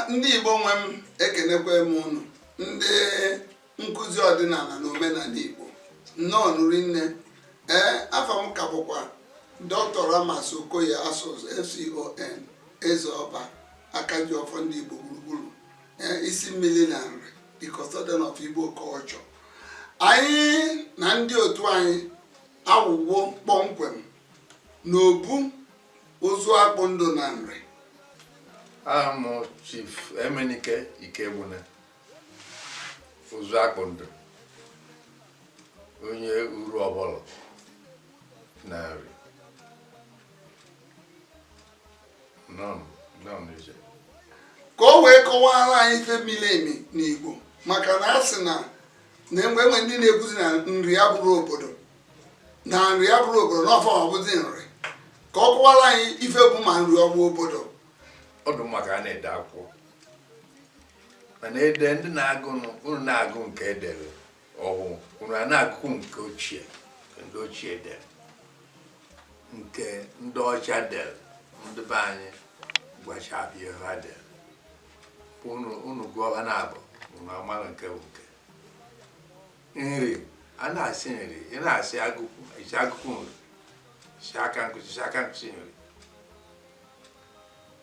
ndị Igbo nwe m ekenekwe m unu ndị nkụzi ọdịnala na omenala Igbo nnọọ nụ rinne ee afa m ka bụkwa Dr. Ramas Okoye Asuzu FCON eze ọba aka ji ọfọ ndị Igbo gburugburu ee isi mmiri na Nri the custodian of Igbo culture anyị na ndị otu anyị awụwo kpọmkwem n'obu ụzụ akpụ ndụ na Nri aha m Chief Emenike Ikegbuna ụzụ akpụ ndụ onye Uruofolo na Nri ka o wee kọwara anyị ife miri emi n'Igbo maka na a sị na e nwee ndị na-ekwuzi na Nri abụrọ obodo na Nri abụrọ obodo na ọ fa bụzi Nri ka ọ kọwara anyị ife bụ ma Nri ọ bụ obodo ọ dụ mma ka a na-ede akwụkwọ mana ede ndị na-agụ unu na-agụ nke e dere ọhụụ unu a na-agụkwu nke ochie ndị ochie dere nke ndị ọcha dere ndị be anyị gwachapụ ihe ha dere unu gụọ ha naabọ unu amara nke bụ nke Nri a na-asị Nri ị na-asị Agụkwu ị sị Agụkwu Nri sị Akamkpisi sị Akamkpisi Nri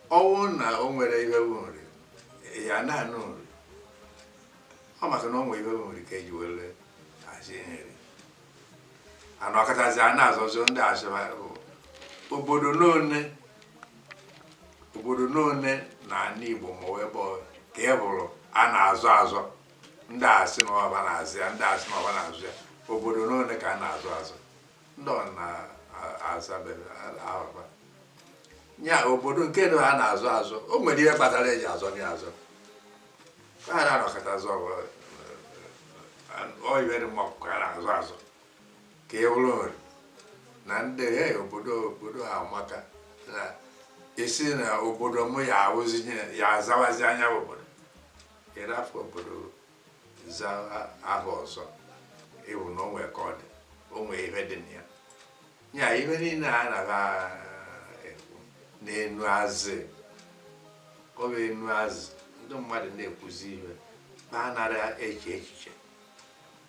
ọ wụ na o nwere ihe bụ Nri ya na-anụ Nri ọ maka na o nwere ihe bụ Nri ka e ji were asị Nri a nọkatazi a na-azọ azọ ndị a sị ba bụ obodo n'one obodo n'one na ala Igbo ma ọ bụ ebe ọ ka e buru a na-azọ azọ ndị a sị na ọ ba na-aza ya ndị a sị na ọ ba na-aza ya obodo n'ole ka a na-azọ azọ ndị ọ na-azabeghị ahụba ya obodo nke na ha na-azọ azọ o nwere ihe kpatara e ji azọ ya azọ ka ha na-anọkata azọ ọyịbere mma ọkụkọ a na-azọ azọ ka e buru Nri na ndị he obodo obodo ha maka na a sị na obodo m ya awụzi ya azawazia nya obodo ị rafụ bụrụ za aha ọzọ ị hụ na o nwee ka ọ dị o nwee ihe dị na ya ya ihe niile a na-agha ekwu n'enu azị ọ bụ enu azị ndị mmadụ na-ekwuzi ihe ma anara eche echiche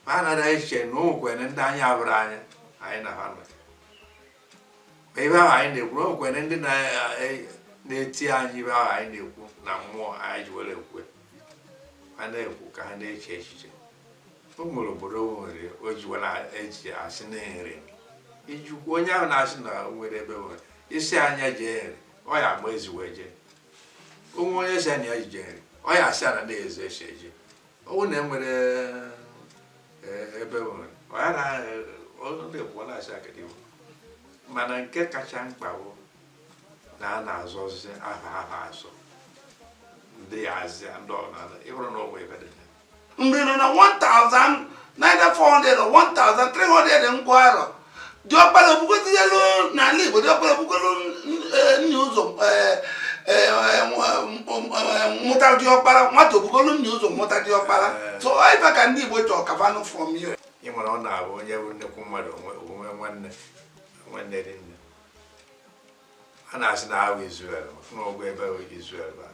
ma anara eche na o nwekwere ndị anyị abụrụ anyị anyị na ha nọ ma ihe ahụ anyị na-ekwu na o nwekwere ndị na- e- na-eti anyị ihe ahụ anyị na-ekwu na mmụọ anyị ji were ekwe ha na-ekwu ka ha na-eche echiche o nwere obodo o nwere o ji were eji asị na nri ijikwu onye ahụ na-asị na o nwere ebe nwere isi anya jee nri ọ ya agba ezi wee jee o nwee onye sị na ya ji jee nri ọ ya asị ana na-eze eche eje ọ bụrụ na e nwere eh, ebe nwere ọ ya na ọ na-ekwu ọ na-asị akịdị iwu mana nke kacha mkpa bụ na a na-azọzi aha aha azọ ndị ya azịa ndị ọnala ịhụrụ na ọwụ ebe dị na ya. mgbe nọ na 1400 or 1300 ngwa arọ diọkpara obugotinyelu n'ala igbo diọkpara o bugolu nna ụzọ mụta diọkpara nwata o bugolu nna ụzọ mụta diọkpara so ife ka ndị igbo chọọ ka fa nụ from you ị mara ọ na-abụ onye bụ nnekwu mmadụ onwe nwanne nwanne dị nne a na-asị na ahụ Izrel na ọwụ ebe Izrel ba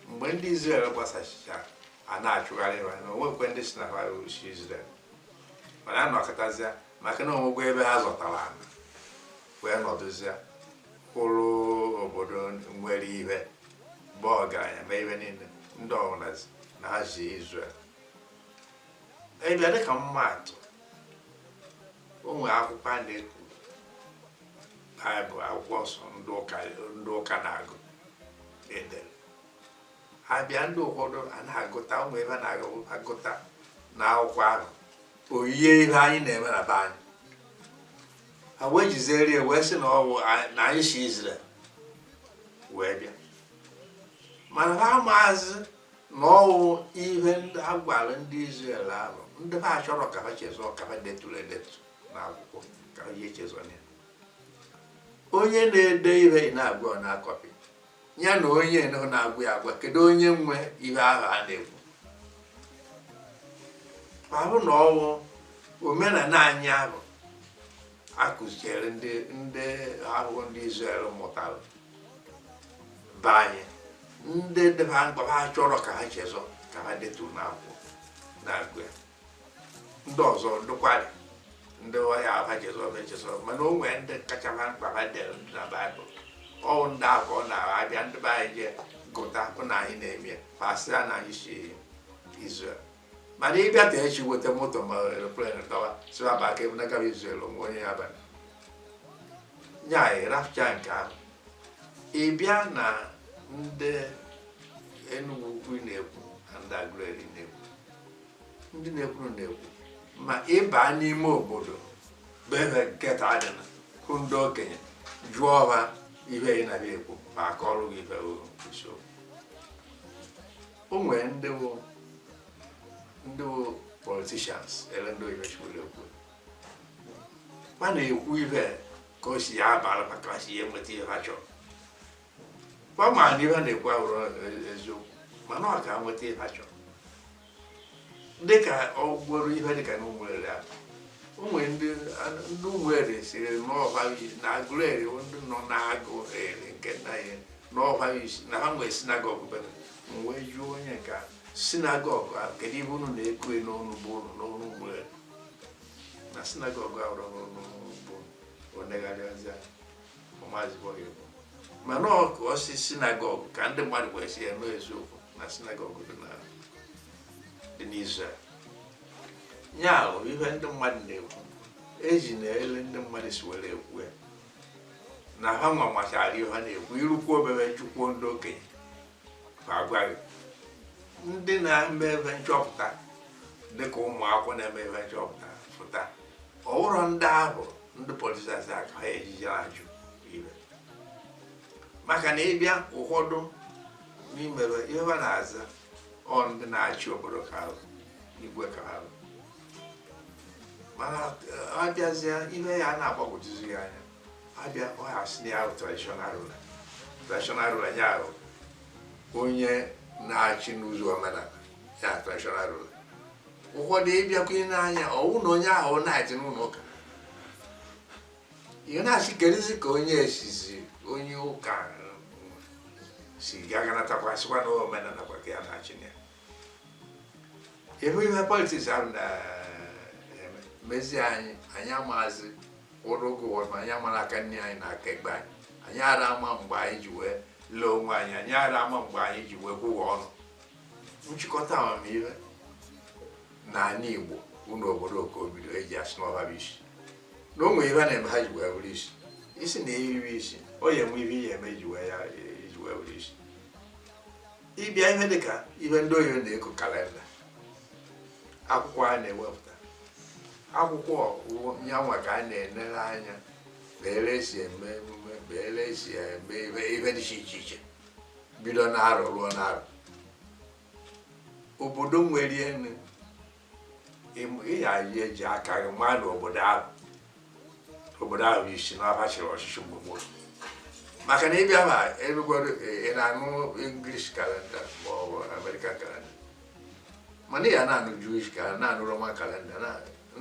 mgbe ndị Izrel gbasachicha a na-achụgharị ha na o nwekwee ndị sị na ha si Izrel mana a nọkọtazịa maka na o nwego ebe ha zọtara ana wee nọdụzie kwụrụ obodo nwere ihe bụ ọgaranya ma ihe niile ndị ọwụna sị na ha si Izrel bịa dịka ịma atụ o nwere akwụkwọ a na-ekwu baịbụl akwụkwọ nsọ ndị ụka na-agụ edere ha bịa ndị ụfọdụ a na-agụta ụmụ ihe a na-agụta na akwụkwọ ahụ o yie ihe anyị na-eme na be anyị ha wee jiziri ya wee sị na ọwụ na anyị si Izrel wee bịa mana ha amazị na ọwụ ihe ndị a gwara ndị Izrel ahụ ndị ha achọrọ ka ha chezọọ ka ha deturu edetu na akwụkwọ ka ha ji echezọ ya onye na-ede ihe ị na-agwa ọ na-akọpị ya na onye nọ na-agwa ya agwa kedu onye nwe ihe ahụ a na-ekwu ahụ na ọwụ omenala anyị ahụ a kuziiri ndị ahụ ndị Izrel mụtara be anyị ndị dị ha mkpa ha achọrọ ka ha chezọ ka ha deturu n'akwụkwọ na-agụ ya ndị ọzọ dụkwarị ndị ọ ya-abụ ha chezọọ echezọ mana o nwee ndị kacha ha mkpa ha dere ndị na baịbụl ọwụ ndị ahụ ka ọ na-abụ ndị be anyị jee gụta hụ na anyị na-eme ya ha sị ya na anyị si Izrel mana ị bịa ka echi weta moto ma eroplen dọwa sị ha baa ka ebe nagara Izrel o nwee onye ya-aba na ya anyị rapụcha nke ahụ ị bịa na ndị Enugu ukwu ị na-ekwu na ndị Aguleri na-ekwu ndị na-ekwuru na-ekwu ma ị ba n'ime obodo bụ ebe nketa dị na hụ ndị okenye jụọ ha ihe ị na-ekwu ma ha akọọrọ gị ife isiokwu o nwere ndị bụ ndị bụ politicians ele ndị oyibo si were ekwu ma na-ekwu ife ka o si ya abara maka ha si ya enweta ihe ha chọrọ kwa ma na ihe a na-ekwu abụrọ eziokwu mana ọ ka nweta ihe ha chọrọ dịka ọ bụrụ ihe dịka na ụmụeri a o nwere ndị ụmụeri sịrị n'ọba na Agụleri ndị nọ na Agụleri nke nna ya n'ọba sị na ha nwee synagogue bere m wee jụọ onye nke a synagogue ahụ kedu ihe unu na-eku n'ọnụ be unu n'ọnụ ụmụeri na synagogue abụrọ n'ọnụ be o negharịazịa mana ọ ka ọ sị synagogue ka ndị mmadụ wee sị ya n'eziokwu na synagogue dị na dị n'Izrel ya bụ ihe ndị mmadụ na-ekwu ejina ele ndị mmadụ si were ekwu ya na ha nwa machara ihe ha na-ekwu i rukwuo bere chọkwuo ndị okenye agwa gị ndị na-eme ife nchọpụta dịka ụmụ akwụkwọ na-eme ife nchọpụta pụta ọhụrụ ndị ahụ ndị politicians ka ha ejije ajụ ife maka na ị bịa ụfọdụ n'ime ihe ha na-aza ọ ndị na-achị obodo ka ha bụ igwe ka ha bụ mana a bịazịa ihe ya na-agbagwojuzi ya anya a bịa ọ ha sị ya traditional ruler traditional ruler ya bụ onye na-achị n'ụzọ omenala ya traditional ruler ụfọdụ ị bịakwa nee anya ọ wụ na onye ahụ na-achị n'ụlọ ụka ihe na-asị kerizi ka onye esizi onye ụka si gaganatakwasịkwa na omenala kwa ka ya na-achị na ya eme ihe politics ahụ na-eme mezie anyị anyị amaazị ụrụ oge ụwa ma anyị amara aka nri anyị na aka ekpe anyị anyị ara ama mgbe anyị ji wee lee onwe anyị anyị ara ama mgbe anyị ji wee kwụwa ọnụ nchịkọta amamihe na ala igbo ọ n'obodo ka o bido e ji asị na ọ ha bụ isi na o nwere ihe a na-eme ha ji wee bụrụ isi ị sị na Nri bụ isi o ya enwe ihe ihe eme ji wee ya iji wee bụrụ isi ị bịa ihe dịka ihe ndị oyibo na-eku calendar akwụkwọ a na-ewepụta akwụkwọ ọgụgụ ya nwa ka a na-enere anya bere esi eme emume bere esi eme ife ife dị iche iche bido n'arọ ruo n'arọ obodo nwere enu ihe anyị eji aka gị maa na obodo ahụ obodo ahụ i si na fa chịrị ọchịchị mgbe gboo maka na ị bịa ma erugoro ị na-anụ English kalenda ma ọ bụ American kalenda mana ya na-anụ Jewish kalenda na-anụ Roman kalenda na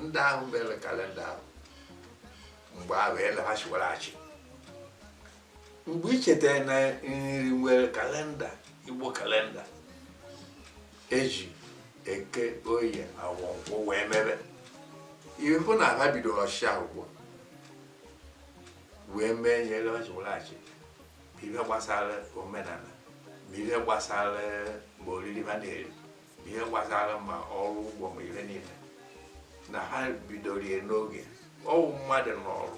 ndị ahụ mere kalenda ahụ mgbe ahụ eleghachịwara achị mgbe i chetara na Nri nwere kalenda Igbo kalenda e ji eke oye awọ nkwọ wee mebe ị hụ na ha bidoro ọchịchị ahụ gboo wee mee ihe lọchịwụlachi ma ihe gbasara omenala ma ihe gbasara ma oriri ha na-eri ihe gbasara ma ọrụ ugbo ma ihe niile na ha bidoro ya n'oge ọ wụ mmadụ nọrọ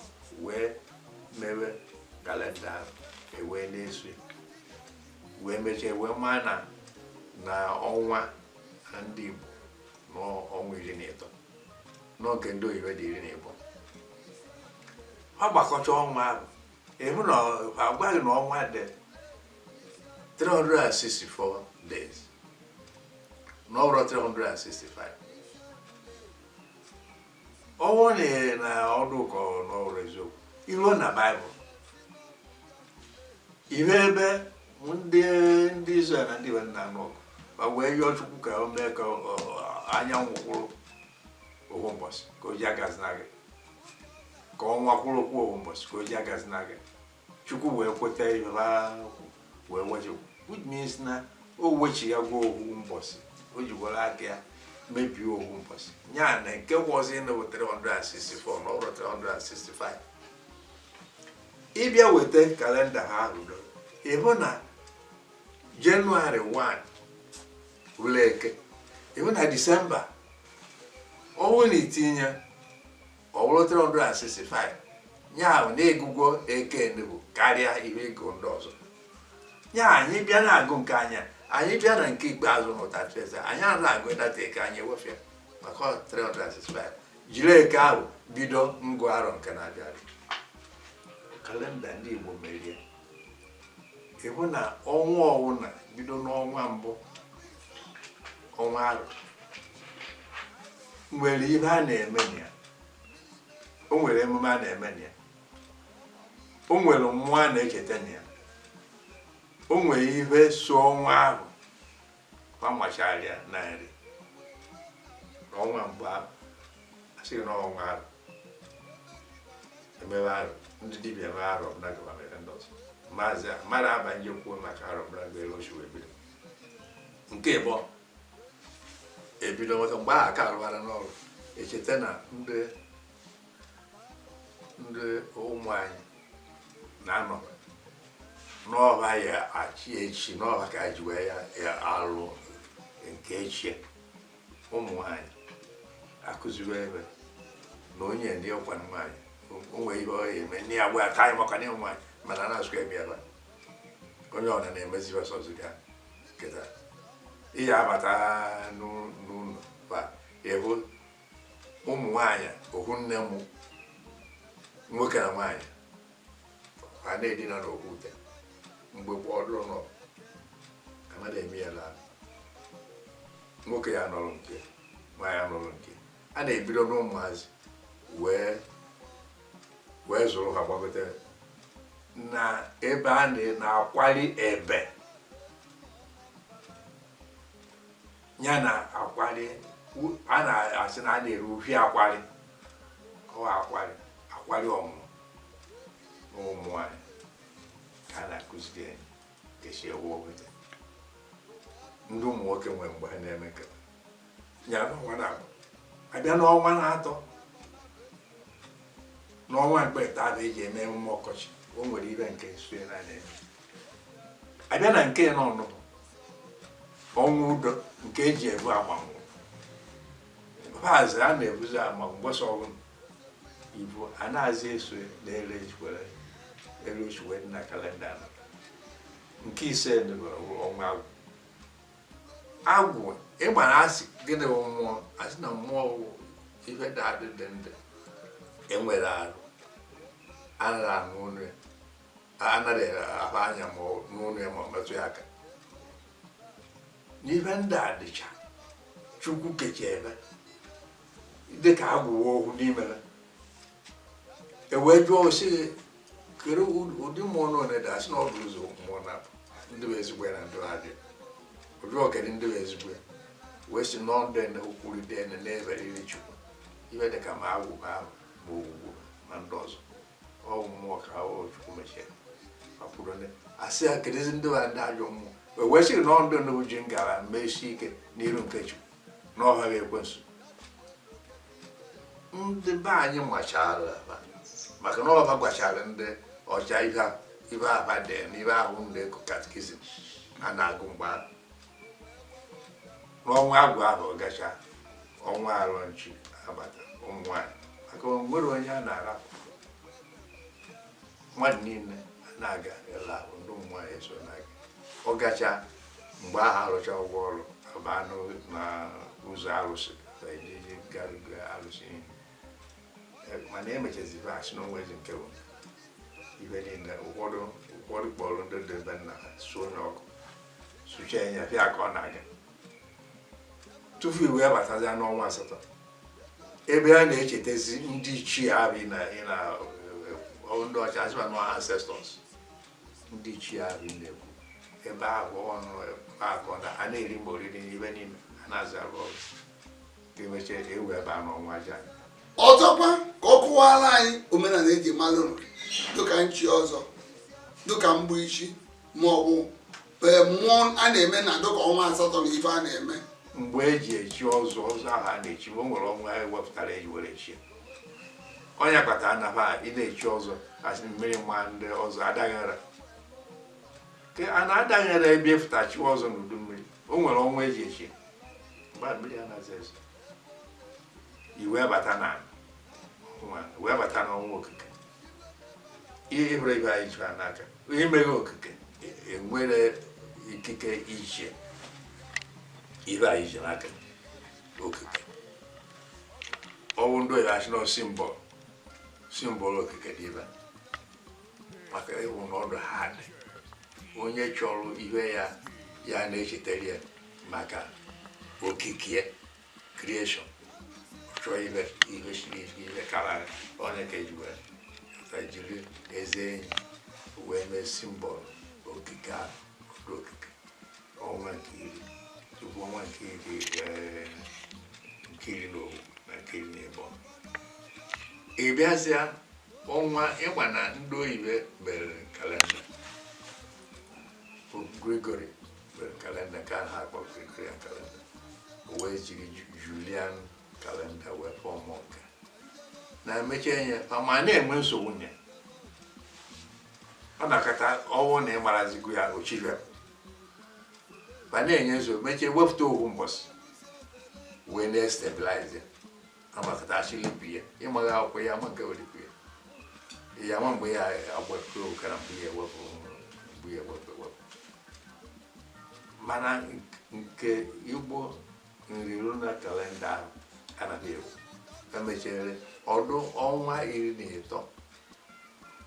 wee mewe kalenda ahụ e wee na-eso ya. wee mechaa wee maa na na ọnwa ndị Igbo n'ọnwa iri na ịtọ na nke ndị oyibo dị iri na ịbụọ ha gbakọcha ọnwa ahụ ị hụ na a gwa gị na ọnwa dị 364 days na ọ wụrọ 365 ọ wụ na na ọ dụ ka na ọ wụrọ eziokwu i ruo na Baịbụl ị hụ ebe ndị ndị Izrel na ndị be na-anụ ọgụ ma wee yọọ Chukwu ka o mee ka anyanwụ kwụrụ ohu mbọsị ka o ji agazina aga ka ọnwa kwụrụkwa ohu mbọsị ka o ji agazina aga Chukwu wee kweta ihe wee wechi which means na o wechi ya gwa ohu mbọsị o ji were aka ya mebie ohu mbọsị ya na nke wụzi na 364 na ọ wụrọ 365 ị bịa weta kalenda ha ahụ ị hụ na jenụwarị 1 wụrụ eke ị hụ na disemba ọ wụ na i tinye ọ wụrụ 365 ya ahụ na e gụgwo eke nnukwu karịa ihe e gụ ndị ọzọ ya anyị bịa na-agụ nke anyị anyị bịa na nke ikpeazụ na 31st anyị anaghị agụ that eke anyị wefụ ya maka 365 jiri eke ahụ bido ngụ arọ nke na-abịa abịa kalenda ndị Igbo mere ị hụ na ọnwa ọwụna bido n'ọnwa mbụ ọnwa arụ nwere ihe a na-eme na ya o nwere emume a na-eme na ya o nwere mmụọ a na-echeta na ya o nwere ihe so ọnwa ahụ ma machara ya na nri n'ọnwa mbụ ahụ asị gị n'ọnwa ahụ emebe arụ ndị dibịa eme arụ ọbụla gaba mere ndị ọzọ maazị a mmadụ abanye kwuo maka arụ ọbụla gba elu ochi wee bido nke igbo ebido nweta mgbe ahụ ka a rụbara n'ọrụ echeta na ndị ndị ụmụ nwanyị na-anọ n'ọba ya achị echi n'ọba ka ji wee ya alụ nke echi ụmụ nwanyị akụziwe ebe na onye ndị ọkwa nwanyị o nwe ihe ọ eme ndị ya gwa aka anyị maka na ụmụ nwanyị mana na-asụ ebe ya onye ọna na-emezi ọsọsọ ga keta ihe abata n'ụlọ ba ewu ụmụ nwaanyị ohu nne mụ nwoke na nwaanyị ha na-edina n'ohu ute mgbe gboo ọdụrụ nọ amada eme ya laa nwoke ya nọrọ nke nwaanyị anọrọ nke a na-ebido n'ụmụazị wee wee zụrụ ha gbagote na ebe a na- na-akwali ebe ya na akwari a na-asị na a na-ere uhie akwari ọ akwari akwari ọmụmụ na ụmụ nwanyị ka a na-akụziri anyị ka e si ewu obodo ndị ụmụ nwoke nwere mgbe ha na-eme nke ya n'ọnwa naabọ a bịa n'ọnwa naatọ n'ọnwa mkpeta a na-eji eme emume ọkọchị o nwere ife nke nso ya na-eme a bịa na nke naanọ ọnwa udo nke e ji ebu amanwụ paazị a na-ebuzi ama mgbasa ọnwụ ibu anazị eso na-ere ejikwere elu ochiwe dị na kalenda nọ. nke ise dịbara ọnwa agwụ agwụ ịma na a sị gịnị bụ mmụọ a sị na mmụọ bụ ife dị adị dị ndụ enwerọ arụ anaghị anụ onu ya anaghị ahụ anya ma nụ onu ya ma ọ metụ ya aka n'ihe ndị a dịcha chukwu kecha ife dị ka agwụ wụ ohu n'ime ha e wee jụọ sị kedụ ụdị mmụọ one dị a sị na ọ bụ ụzọ mmụọ na ndị bụ ezigbo ya na ndị na-adị njọ kedụ ndị bụ ezigbo ya wee sị na ọ ndị na okwuru dị ene na-eferiri chukwu ife dị ka ma agwụ ma ahụ ma ogwugwu ma ndị ọzọ ọ wụ mmụọ ka ha wụ chukwu mechie ọpụrụ ndị a sị ya kedụzi ndị bụ ndị ajọ mmụọ wee wee sịrị na ọ ndị nụbụ ji ngara mee isi ike n'iru nke chukwu na ọ ha bụ ekwensu ndị be anyị machara ha maka na ọ ha gwachara ndị ọcha ihe a- ife aba dị na ife ahụ a na-eku katikizim a na-agụ mgbe ahụ n'ọnwa agwụ ahụ ọ gacha ọnwa alọm chi abata ụmụ nwanyị maka o nwere onye a na-arapụ mmadụ niile na-aga ịla ahụ ndị ụmụ nwanyị eso na-aga ọ gacha mgbe ahụ arụcha ụgwọ ọrụ abaa n'ụ- na ụzọ arụsị na eji garuga arụsị ihe eh, mana emechezi ba sị na o nwezi nke bụ ibe niile ụfọdụ ụfọdụ kpọrọ ndị dị ebe nna ha suo na ọkụ suchie anya bịa ka ọ na-aga tupu i wee batazi n'ọnwa asatọ ebe a na-echetezi ndị ichie ahụ ị na ị na eh, ndị ọcha asị ba na ọ ancestors ndị ichie ahụ ị na-ekwu ebe ahụ ọnụ akọ na a na-eri mgbe oriri n'ibe niile a na-aza arụ ọrụ ọzọkwa ka ọ kụwara anyị omenala eji mara Nri dịka nchi ọzọ dịka mgbu ichi ma ọ bụ e, mmụọ a na-eme na dịka ọnwa asatọ na ife a na-eme mgbe eji echi ọzọ ọzọ ahụ a na-echi ma o nwere ọnwa e wepụtara eji were echi ọ nya kpata na ha ị na-echi ọzọ asị mmiri nwa ndị ọzọ adaghara a na-adaghara ebe ị fụta chi ọzọ n'udu mmiri o nwere ọnwa eji echi mgbe a mmiri anaghịzi ezo i wee bata na nwa wee bata n'ọnwa okike ihe hụrụ ibe anyị chụrụ n'aka onye mere okike e- enwere ikike isi ibe anyị ji n'aka okike ọ wụ ndị oyibo asị na symbol symbol okike dị ibe maka ị hụ n'ọdụ ha dị onye chọrọ ihe ya ya na-echetara ya maka okike creation chọọ ihe ihe siri ike karịa onye ka eji wee ka jiri eze enyi wee mee symbol okike ọdụ okike ọnwa nke iri tupu ọnwa nke iri eh, nke iri na ofu na nke iri na ịbọ ị bịazịa ọnwa ị ma na ndị oyibo mere kalenda Pope Gregory mere kalenda ka ha akpọ Gregorian kalenda o wee jiri Ju- Julian kalenda wee fọmụ nke na emechi enye ma na-enwe nsogbu nye ọ nọkata ọ wụ na ị marazigo ya o si bịa ma na-enye nsogbu mechie wepụta ofu mbọsị wee na-estabilize amakata a sị leap year ị maghị akwụkwọ ya ama nke wụ leap year ya ama mgbe ya agbapụ okara mgbe ya ewepụ mgbe ya ewepụ ewepụ mana nke Igbo nri ruo na kalenda ahụ anaghị ewu emechere ọ dụ ọnwa iri na ịtọ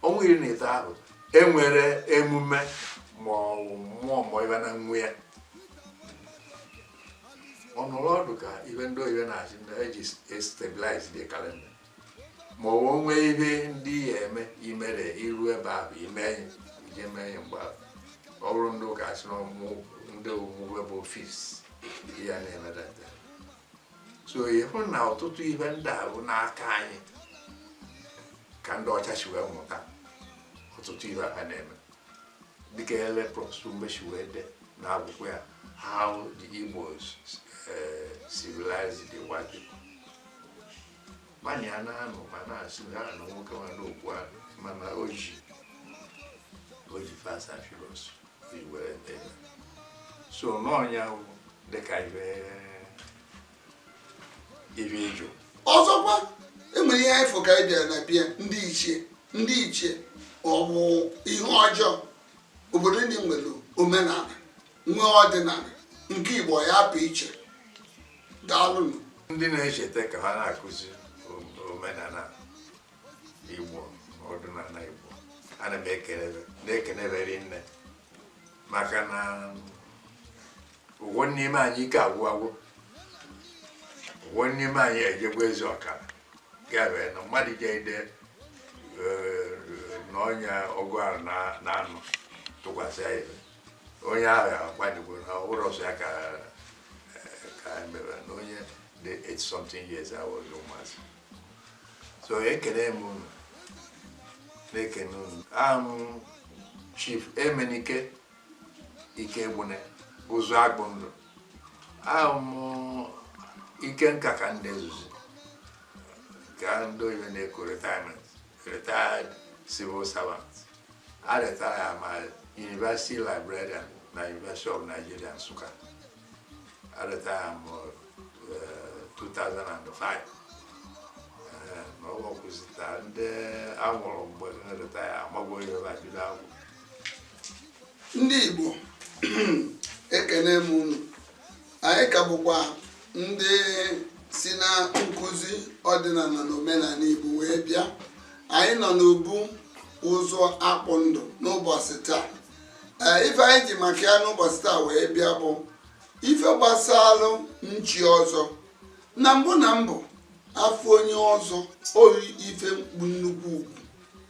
ọnwa iri na ịtọ ahụ enwere emume ma ọ bụ mmụọ ma ibe na nwe ya ọ nọrọ ọ dụ ka ihe ndị oyibo na-asị ndị eji stabilize the calendar ma ọ bụ nwee ihe ndị ya eme imere iru ebe ahụ ime ya ije mee ya mgbe ahụ ọ bụrụ ndị ụka asị na ọmụ- ndị omume bụ ofis ya na-emedata so ị hụ na ọtụtụ ihe ndị a bụ n'aka anyị ka ndị ọcha si wee mụta ọtụtụ ihe ha na-eme dịka ele prọfesọ mgbe si wee de n'akwụkwọ ya how the Igbos eh, civilized the white people mana ya na-anụ ma na-asị ha na nwoke nwa n'okwu a mana o ji o ji facts and figures were dee so n'ọ ya bụ dịka ibe ibe ịjụ ọzọkwa enwere ihe anyị fụ ka anyị bịara na be ndị ichie ndị ichie ọ bụ ihe ọjọọ obodo ndị nwere omenala nwee ọdịnala nke igbo ya apụ iche daalụnụ ndị na-echeta ka ha na-akụzi omenala igbo ọdịnala igbo ana m ekelebe na-ekelebe rinne maka na ụfọdụ n'ime anyị ike agwụgwo ụfọdụ n'ime anyị ejegwo ezi ọkara gabe na mmadụ ga-ede eh, na onye ọgụ arọ n'anọ tụkwasị ya onye ahụ agbanyegwo na ụlọ ọzọ ya ka ka anyị mara na onye dị 80 something years awụghị ụmụazị so ekene m unu na-ekene unu aha m Chief Emenike Ikegbune Ụzụakpụndụ aha m ike nka ka ndị ezuzi ka ndị oyibo na-ekwu retirement retired civil servant A retire m a University Librarian na University of Nigeria Nsukka. A retire m eh, 2005. Eh, na ọ gbakwụsịta ndị a mụrụ mgbe m retire amagwo ihe ba bido agwụ. ndị igbo ekene m unu anyị ka bụkwa ndị si na nkụzi ọdịnala na omenala Igbo wee bịa anyị nọ n'obu Ụzụakpụndụ n'ụbọsị taa ee ife anyị ji maka ya n'ụbọsị taa wee bịa bụ ife gbasalụ nchi ọzọ na mbụ na mbụ a fụ onye ọzọ o yi ife mkpu nnukwu ugwu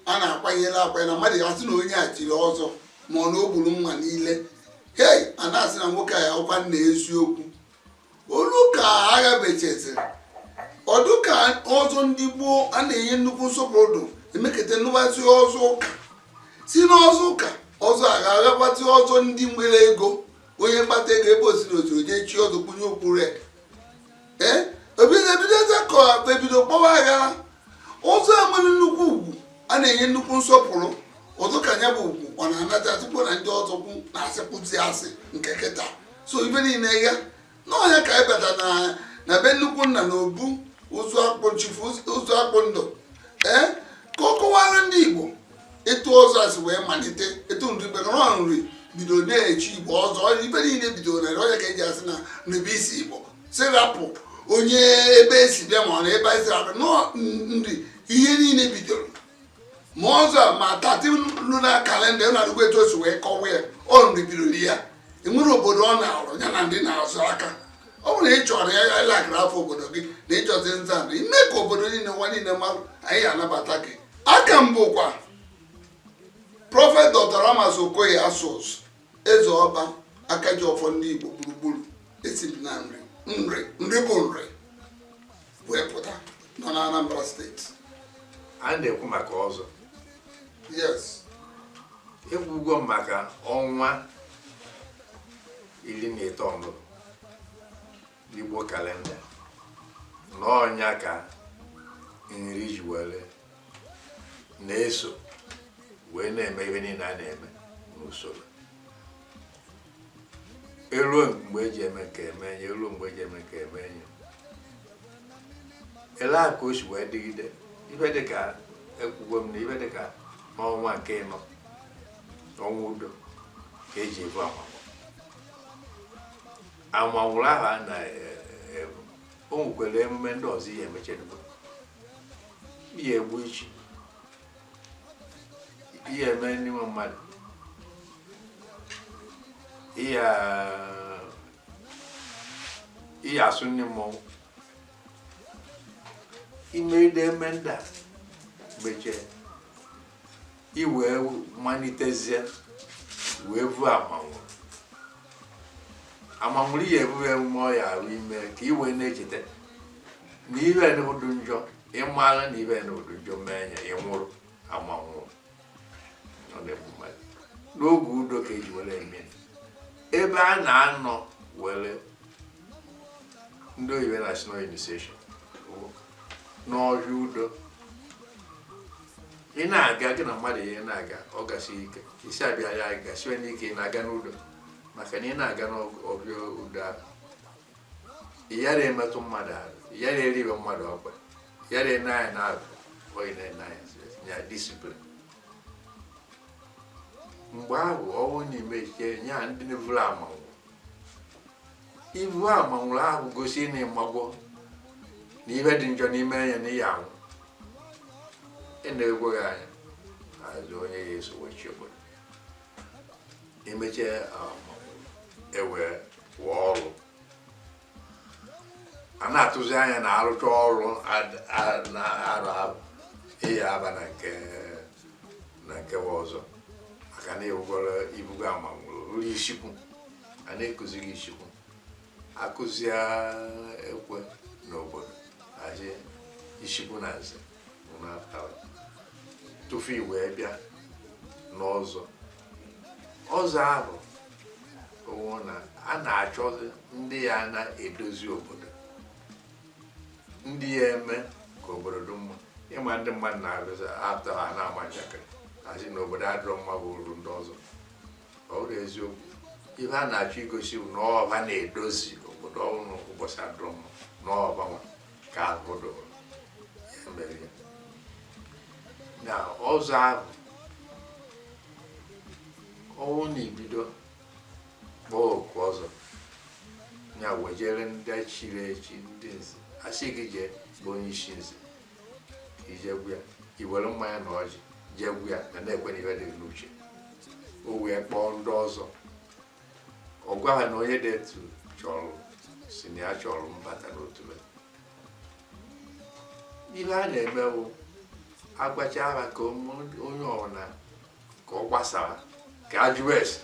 a na-akwanyere akwanye na mmadụ asị na onye a chiri ọzọ ma ọ na o gburu nwa niile hei a na-asị na nwoke a ya ọkwa nna eziokwu o lu ka agha bechaziri ọ dị ka ọzọ ndị gboo a na-enye nnukwu nsọpụrụ emeketa anụbazie ọzọ ụka si n'ọzọ ụka ọzọ agha abata ọzọ ndị nwere ego onye kpata ego ebe o siri o siri jee chie ọzọ kpunye okpu red ebido ebidozie ka ebido kpọwa aha ọzọ enwere nnukwu ugwu a na-enye nnukwu nsọpụrụ ọzọ ka nya bụ ugwu ọ na-anacha tupu na ndị ọzọ kwu na-asịkwuzi asị nke kịta so ibe niile ya na ọ nya ka anyị bata na be nnukwu nna na obu Ụzọakpụ chifu Ụzọakpụndụ ee ka ọ kọwara ndị Igbo etu ọzọ si wee malite etu Nri be nọrọ Nri bido na-echi Igbo ọzọ ihe niile bidoro na ọ nya ka eji asị na Nri bụ isi Igbo si rapụ onye ebe esi bịa ma ọ na ebe anyị si rapụ na ọ Nri ihe niile bidoro ma ọzọ ma thirteen lunar kalenda ị na-anụkwa etu o si wee kọwa ya ọ Nri bidoro ya enwere obodo ọ na-arụ ya na ndị na-azụ aka ọ bụrụ na ị chọrọ ya ịlakara afọ obodo gị na ịchọzi nza na ime ka obodo niile ụwa niile marụ anyị anabata gị aha m bụkwa prọfet Dr. Ramas Okoye Asuzu Eze Ọba Akajiọfọ ndị Igbo gburugburu esi m na Nri Nri Nri bụ Nri wee pụta nọ na Anambra steeti a na-ekwu maka ọzọ yes ekwugo m maka ọnwa iri na ịtọ Igbo kalenda na ọ nya ka Nri ji were na-eso wee na-eme ihe niile a na-eme n'usoro eruo mgbe eji eme nke emee nya eruo mgbe eji eme nke emee nya ele a ka o si wee dịgide ihe dịka ekwugo m na ihe dịka n'ọnwa nke ịnọ ọnwa udo ka eji ebu ama amanwụrụ ahụ a na o nwekwara emume ndị ọzọ ị ya-emechadebe ị ya-egbu ichi ị ya-eme ndị nwe mmadụ ị ị ya-asụ ndị mmọnwụ i medebe ndị a mechie i wee malitezie wee vuo amanwụ amanwụrụ ya ebughị emume ọ ya arụ ime ka i wee na-echeta na ihe nụ dị njọ ị mara na ihe nụ dị njọ mee ya ị nwụrụ amanwụrụ n'oge udo ka eji were eme ebe a na-anọ were ndị oyibo na-asị na initiation n'ọhịa udo ị na-aga gị na mmadụ ihe na-aga ọ gasị ike isi abịa ya gasiwe n'ike ị na-aga n'udo maka na ị na-aga n'ọhịa udo ahụ ị yara emetụ mmadụ ahụ ị yara eriwe mmadụ ọkpa ị yara ene anya n'azụ oyi na-ene anya ya disiplin mgbe ahụ ọnwụ na-emechi ya ndị na-eburu amanwụ ibu amanwụrụ ahụ gosi na ị magwo na ihe dị njọ n'ime anya na ihe anwụ ị na-eneghị anya azụ onye ya eso wechi obodo emechaa e wee rụọ ọrụ a na-atụzi anya na a rụcha ọrụ na-arụ arụ ị ya-aba na nke na nkewa ọzọ maka na ịwụgoro i bugo amanwụrụ ruo isikwu a na-ekuzi gị isikwu a kụzie ekwe n'obodo aje isikwu na nze tufu i wee bịa n'ọzọ ọzọ ahụ ọnwụ na a na-achọzi ndị ya na-edozi obodo ndị ya-eme ka obodo dị mma ị ma ndị mmadụ na-abịazi atọ ha na-ama njakịrị asị na obodo adịrọ mma bụ uru ndị ọzọ ọ bụrọ eziokwu ihe a na-achọ igosi bụ na ọ bụ ha na-edozi obodo ọ bụrụ ụbọchị adịrọ mma na ọ bụ ha nwa ka ọ dịrị ya mere ya na ọzọ ahụ ọnwụ na ị bido kpọọ oku ọzọ ya wejere ndị chiri echi ndị nze a sị gị jee be onye isi nze ka i jekwu ya i were mmanya na ọjị jekwu ya na na-ekwe na ife dị n'uche o wee kpọọ ndị ọzọ ọ gwa ha na onye dị etu chọrọ sị na ya chọrọ ịbata n'otu be ihe a na-eme bụ a gwacha ha ka ụmụ- onye ọbụla ka ọ gbasara ka a jụọ ese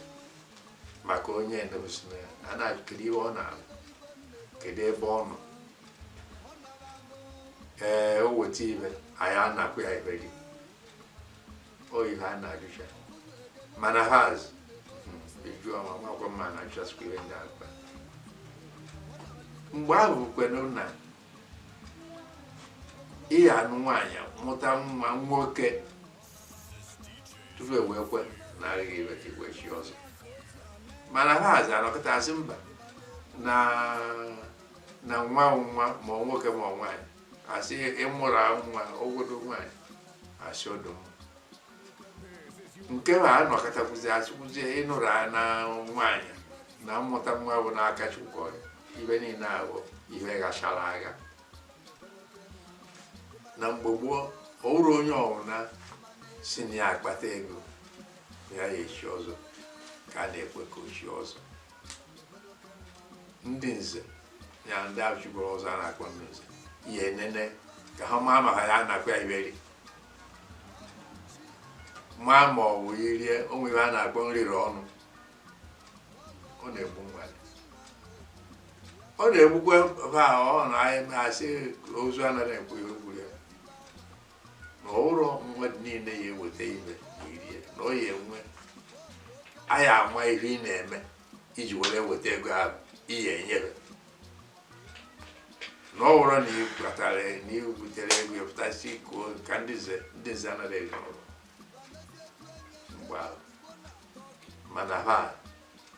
maka onye na-egosi na ya a na-ajụ kedu ihe ọ na-arụ kedu ebe ọ nọ ee o weta ibe anyị anakwa ya ibe gị oyi ha na-ajụcha mana ha azụ eju ọma makwa mma na a chọsikwa ihe ndị akpa mgbe ahụ bụkwanụ na ị ya-anụ nwaanyị mụta nwa nwoke tupu e wee kwe na arịghị iwe ka i wee chi ọzọ mana ha azụ anọkọta sị mba na na nwa nwa ma ọ nwoke ma ọ nwaanyị asị ịmụrụ nwa ogodo nwaanyị asị ọdụ nke a anọkọtakwuzi asịkwuzi ịnụrụ a na nwaanyị na mmụta nwa bụ n'aka Chukwu ọrụ ibe niile ahụ ihe gachara aga na mgbe gboo ọ bụrụ onye ọbụla sị na ya akpata ego ya ya echi ọzọ ka a na-ekwe ka o chi ọzọ ndị nze ya ndị echiburu ọzọ a na-akpọ ndị nze ya enene ka ha maa ma ha ya na-akpọ ya ibe rie maa ma ọ bụ irie o nwere ibe a na-akpọ nrịrị ọnụ ọ na-egbu mmadụ ọ na-egbukwa ba ọ na anyị asị ozu anaghị ekwu ihe gburu ya na ọ wụrọ mmadụ niile ya eweta ibe ma erie na ọ ya enwe anyị ama ihe ị na-eme iji were weta ego ahụ ihe enyere na ọ bụrụ na ị kpatara na ị butere ego ị pụta sị ikuo ka ndị nze ndị nze anaghị eri ọrụ mgbe ahụ mana ha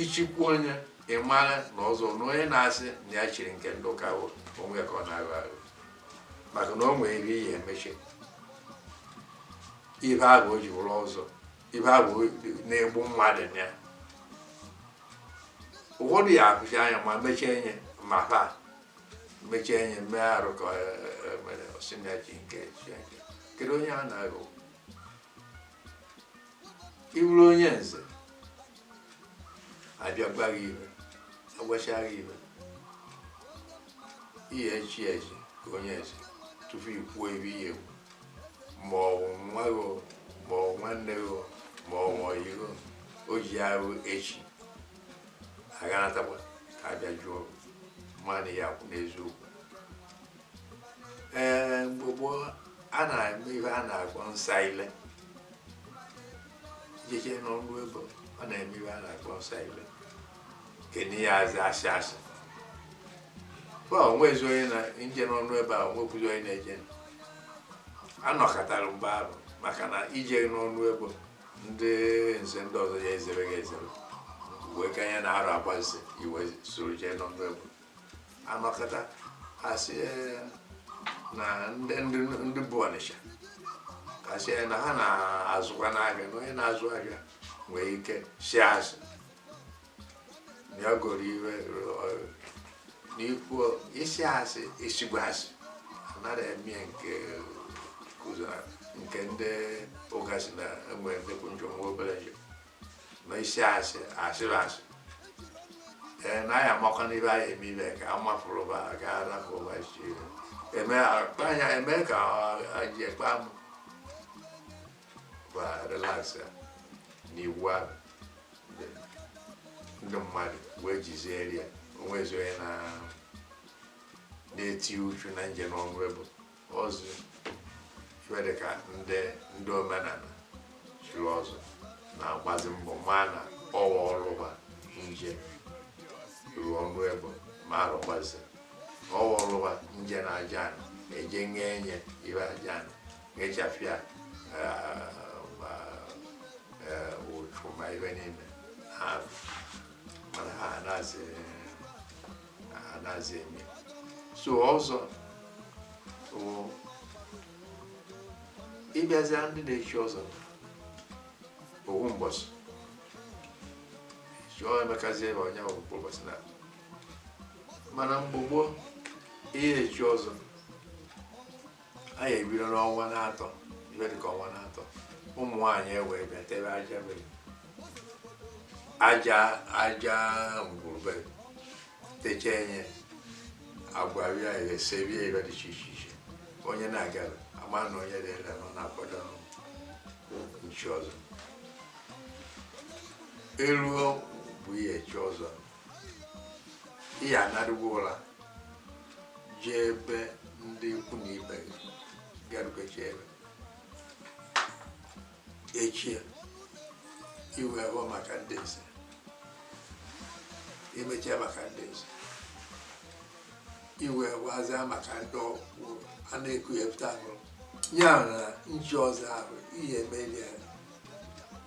ichikwu onye ị mara na ọzọ na onye na-asị na ya chiri nke ndị ụka bụ onwe ya ka ọ na-aghọ aghọ maka na o nwere ihe ya emechi ibe ahụ o ji wụrụ ọzọ ibe ahụ na-egbu mmadụ na ya ụfọdụ ya akpuchi anya ma mechie enye ma ha mechie enye mee arụ ka mere ọ sị na ya chi nke Chineke kedu onye a na-aghọ ị bụrụ onye nze abịa gwa gị ibe agwacha gị ibe ị ya eche eche ka onye nze tupu i kwuo ibe ị ya ekwu ma ọ bụ nwa gị o, ma ọ bụ nwanne gị o, ma ọ bụ ọyị gị o, o ji arụ echi aganatakwa ka abịa jụọ mmadụ ya akwụ n'eziokwu ee mgbe gboo a na-eme ihe a na-akpọ nsa ile jeje n'ọnụ ebe ọ na-eme ihe a na-akpọ nsa ile kenye ya azị asị asị kwa onwezi onye na-eje n'ọnụ ebe a onwekwuzi onye na-eje anọkọtara mgbe ahụ maka na ije n'ọnụ ebe ndị nze ndị ọzọ ya ezere gị ezere wee ka ihe na-arụ agbazi i wee soro jee n'ọnụ ebe anọkọta asị eh, na ndị ndị- ndị bụ Ọnịsha asị na ha na-azụkwa n'ahịa na onye na-azụ ahịa nwee ike sị asị na ya goro ibe eh, n'ikwu isi asị isigbu asị anaghị eme ya nke kụzara nke ndị ụka sị na enwe nnekwu njọ nwe obere njọ ma isi asị asịrị asị ee na anyị amakwa n'ibe anyị eme ime ka a mafụrụ ba gaa rapụ ụwa isi ihe eme akpa anya eme ka ji ekpe amụ ba relax ya n'iwu ahụ ndị mmadụ wee jizie ya o nwezi onye na na-eti uchu na nje na ọnụ ebo ọzọ ife dị ka ndị ndị omenala chiri ọzọ na-agbazi mbọ ma na ọwa ọrụ ba nje ruo ọnụ ebo ma arụgbazi ọwa ọrụ ba nje na aja ana eje nye enye ibe aja ana nyechafịa ma eh, ụchụ ma ibe niile ha mana ha na-asị anaghịzi eme so ọzọ ịbịazia ndị na-echi ọzọ owu mbọsị chụọ emekazi ebe onye bụ mkpụrụ ụbọchị na mana mgbe gboo ị ya-echi ọzọ a ya-ebido n'ọnwa n'atọ ibe dịka ọnwa n'atọ ụmụ nwaanyị e wee bịa tebe aja bere aja aja ngwurube techa enye agwa bịa ese bịa ibe dị iche iche iche onye na-aga ama na onye dịla nọ na-akwado nchi ọzọ eruo bụ ihe chi ọzọ ihe anarịwo ụra jee ebe ndị ikwu na ibe garubeji ebe echi i wee bụ maka ndị nze emechie maka ndị nze i wee wazia maka ndị ọkwụ a na-eku ya pụta ahụrụ ya na nchi ọzọ ahụ ị ya-emeli ya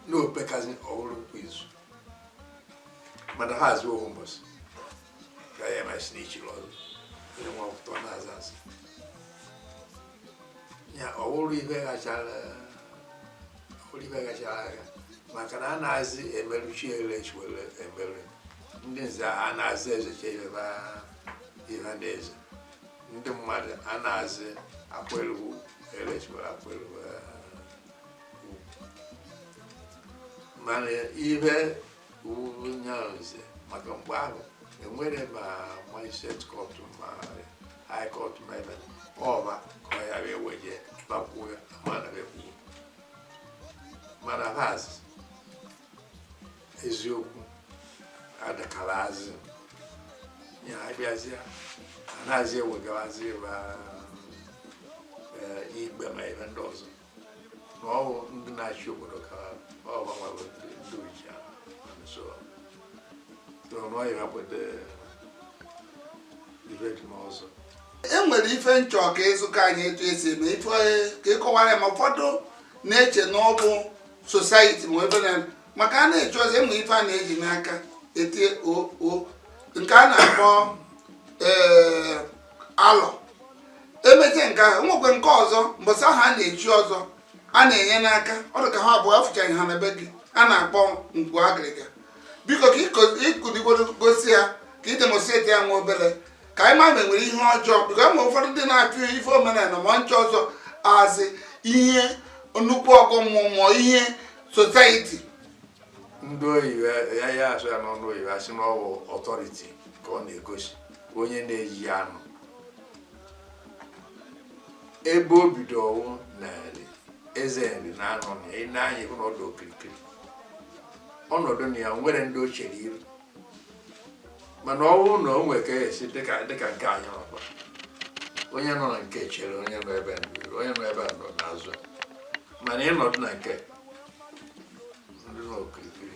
n'o pekazi ọ wụrụ kwa izu mana ha azụ ohu mbọsị ka ya ma si n'ichiri ọzọ onye nwa ọpụta na-aza azụ ya ọ wụrụ ibe gachara wụrụ ibe gachara aga maka na anazị emeruchi ele chiwere emerụ ndị nze anazị ezecha ibe ba ihe ndị eze ndị mmadụ anazị akwelu ele chiwere akwelu mana ihe wuo nyanze maka mgbe ahụ enwere ma magistrate court ma high court ma ebe ọba ka ọ ya wee weje ba kwuo ya mana ba ekwuo mana ba eziokwu adakara azụ ya abịazịa anaghịzi ewegarazi ma ikpe ma ebe ndị ọzọ na ọwụ ndị na-achị obodo ka ọ gbanwere ndị ndị oji ahụ And so so na ọ ya kweta ife dị n'ọzọ e nwere ife m chọ ka ịzụka anyị etu esi eme ife ka ịkọwara ya ma ụfọdụ na-eche na ọ bụ society ma ebe na maka a na-echi ọzọ e nwere ife a na-eji n'aka etie oo nke a na-akpọ ee alọ emechaa nke ahụ nwekwe nke ọzọ mbọsị ahụ a na-echi ọzọ a na-enye n'aka ọ dị ka ha abụọ afụchaghị ha na be gị a na-akpọ ngwu agịrịga biko ka ịkụdigoro gosi ya ka ị demonstrate ya nwa obere ka anyị ma ma enwere ihe ọjọọ biko ma ụfọdụ ndị na-achụ ife omenala ma nchi ọzọ asị ihe nnukwu ọgọ mmụọ ma ihe society ndị oyibo ya ya asụ ya n'ọnụ oyibo asị na ọwụ authority ka ọ na-egosi onye na-eji anụ ebe o bido ọwụ Nri eze Nri na-anọ na ị na-anya ịhụ na ọ dụ okirikiri ọ nọdụ na ya nwere ndị o chere iru mana ọwụ na o nwere ka esi dịka dịka nke anyị nọkwa onye nọ na nke chere onye nọ ebe nri onye nọ ebe a nọ n'azụ mana ịnọdụ na nke ndị nọ okirikiri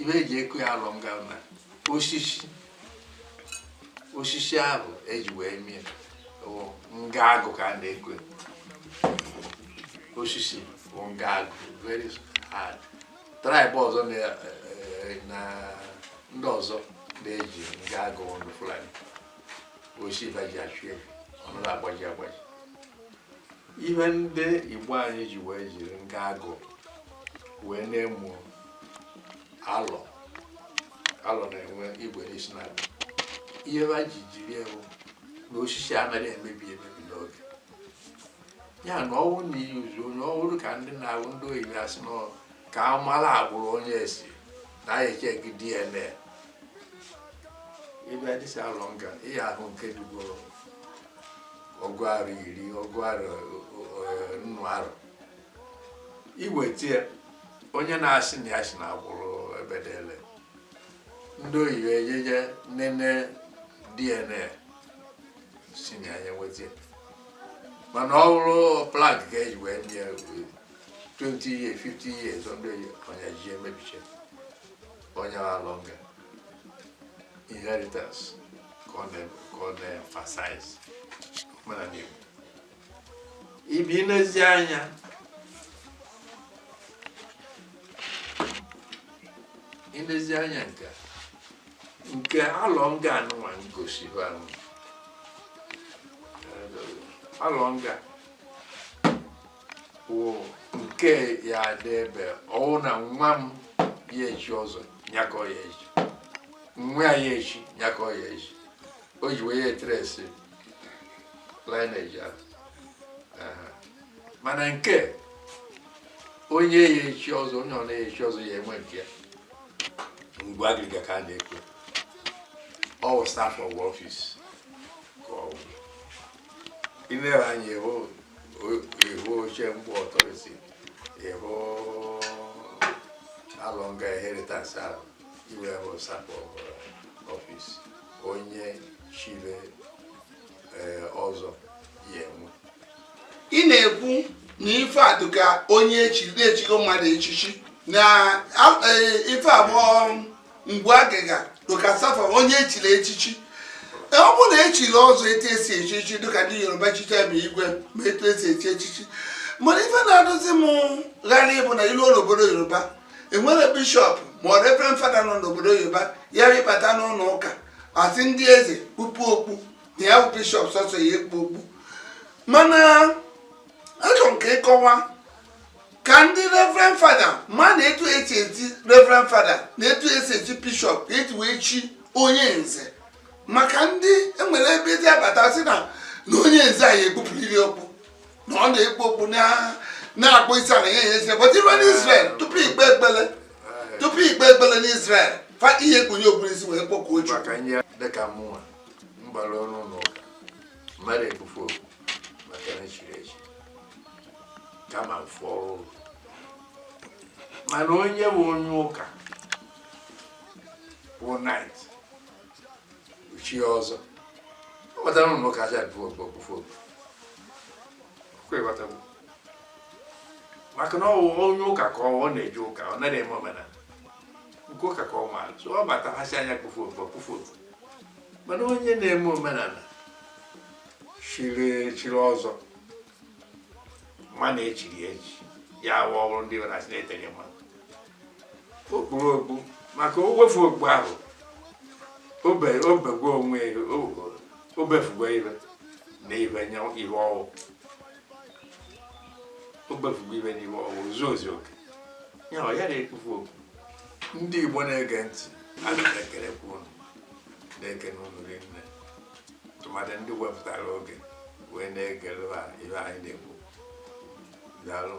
ife eji eku ya alọ nga na osisi osisi ahụ eji wee mie bụ nga agụ ka a na-eku ya. osisi bụ nga agụ very hard tribe ọzọ na eh, na ndị ọzọ na-eji nga agụ ndị Fulani osisi ba ji achụ efi ọ narọ agbaji agbaji ihe ndị Igbo anyị ji wee jiri nga agụ wee na-eme alọ alọ na-enwe igwe n'isi na ihe ha ji jiri ya wụ na osisi anaghị emebi emebi n'oge ya na ọwụ na iyi uzu na ọhụrụ ka ndị na-ahụ ndị oyibo asị na ka a mara agbụrụ onye esi na anyị echeki DNA ịbịa dịsa alọ nga ihe ahụ nke dụgoro ọgụ arọ iri ọgụ arọ eh, nnụ arọ i wetie onye na-asị na ya si na agbụrụ ebedele ndị oyibo ejeje nene DNA si na ya nye nwetie mana ọ bụrụ plank ka eji wee nye 20 years 50 years ọbịa ya onye ji emebiche onye alọ nga inheritance ka ọ na- ka ọ na-emphasize omenala Igbo ị bịa nezi anya ilezi anya nke a, nke alọ nga anụnwa m gosi bụ anụ alọ nga wụ nke ya dị ebe ọwụ na nwa m ya echi ọzọ nyakọ ya echi nwa ya ya echi nyakọ ya echi o ji wee ya etresi lineage ahụ Aha. mana nke onye ya echi ọzọ onye ọ na-eya echi ọzọ ya enwe nke ya ngwu agịrịga ka a na-ekwu ọ wụ staff of office ka ọ wụ i lere anya ịhụ ịhụ oche mgbo ọtọnsi ịhụ alọ nga inheritance ahụ iwe bụ staff of office onye chiri eh, ọzọ ya enwe ị na-ekwu na ife a dịka onye echigo mmadụ echichi na eh, ife abụọ ngwu agịrịga dịka staff onye echiri echichi e, ọ bụrụ na echiri ọzọ etu esi echi echichi dịka ndị yoruba chicha ma igwe ma etu esi echi echichi mana ife na-adịzi m gharị bụ na ilu n'obodo yoruba enwere bishọp ma ọ reverend fada nọ n'obodo yoruba ya abata n'ụlọ ụka asị ndị eze kpupu okpu na ya bụ bishọp sọsọ ya ekpu okpu mana achọrọ m ka ịkọwa ka ndị reverend fada ma na etu esi echi reverend fada na etu esi echi bishọp ka eji wee chi onye nze maka ndị enwere ebe eji abata sị na na onye nze a ya ekpupụriri okpu na ọ na-ekpu okpu na-akpọ isi ala ya enye but iru n'Israel tupu ikpe ekpele tupu ikpe ekpele n'Israel fa ị ya ekpunye okpu n'isi wee kpọkuo Chukwu m adị ekpufu okpu maka na chiri echi kama mfe ọrụ mana onye bụ onye ụka bụ knight o chi ọzọ ọ batara ụlọ ụka aja ekpufu okpu maka na ọ bụ onye ụka ka ọ na-eje ụka ọ naghị eme omenala nke ụka ka ọ maara so ọ bata ha sị ya kpufu okpu kpufu okpu mana onye na-eme omenala chiri chiri ọzọ mana echiri echi ya awa ọrụ ndị nwere asị na-etere mma o kpuru okpu maka o wefu okpu ahụ obe obegwe onwe ya o- obefugwe ibe na ibe nye ibe ọwụ obefugwe ibe na ibe ọwụ zuo ozi oke ya ọ ya na-ekpufu okpu ndị igbo na-ege ntị ana m ekelekwa unu na-ekene unu rinne tụmadị ndị wepụtara oge wee na-egere ha ihe anyị na-ekwu daalụ